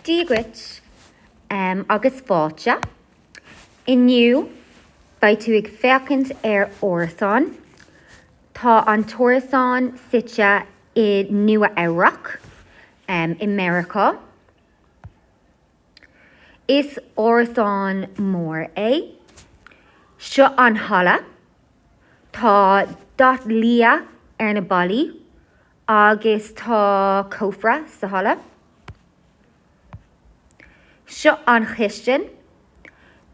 Dia dhuit agus fáilte. Inniu beidh tú ag féachaint ar árasán. Tá an t-árasán suite i Nua Eabhrac i Meiriceá. Is árasán mór é. Seo an halla. Tá dath liath ar na ballaí Agus tá cófra sa halla. Seo an chistin.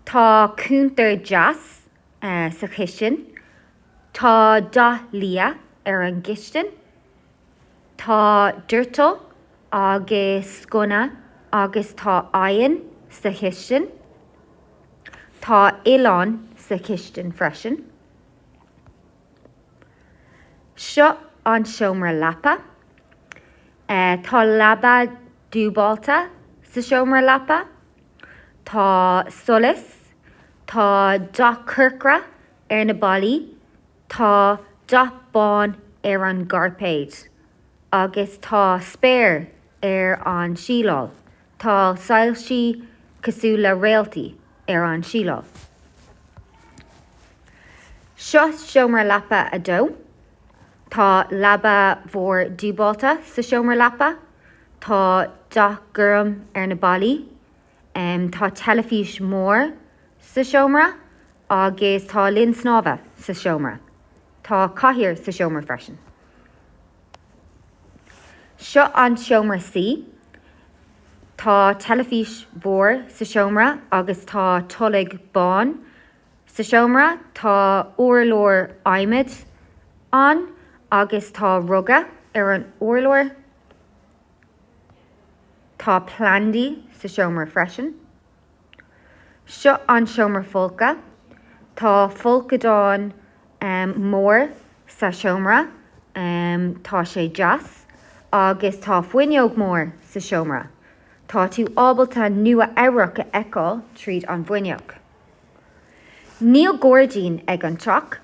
Tá cúntar deas sa chistin. Tá dath liath ar an gcistin. Tá doirteal agus sconna agus tá oigheann sa chistin. Tá oileán sa chistin freisin. Seo an seomra leapa. Tá leaba dúbálta sa seomra leapa. Tá solas. Tá dath corcra ar na ballaí. Tá dath bán ar an gcairpéad agus tá spéir ar an tsíleáil. Tá soilsí cosúil le réaltaí ar an tsíleáil. Seo seomra leapa a dó. Tá leaba mhór dúbálta sa seomra leapa. Tá dath gorm ar na ballaí. Tá teilifís mór sa seomra agus tá linn snámha sa seomra. Tá cathaoir sa seomra freisin. Seo an seomra suí. Tá teilifís mhór sa seomra agus tá tolg bán sa seomra. Tá urlár adhmaid ann agus tá ruga ar an urlár. Tá plandaí sa seomra freisin. Seo an seomra folctha. Tá folcadán mór sa seomra. Tá sé deas agus tá fuinneog mór sa seomra. Tá tú ábalta Nua Eabhrac a fheiceáil tríd an bhfuinneog. Níl gairdín ag an teach.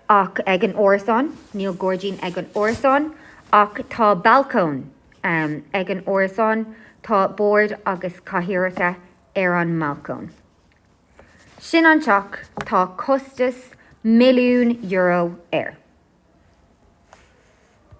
ach ag an árasán, níl gairdín ag an árasán, ach tá balcóin ag an árasán, tá bord agus cathaoireacha ar an mbalcóin. Sin an teach, tá costas milliún euro air.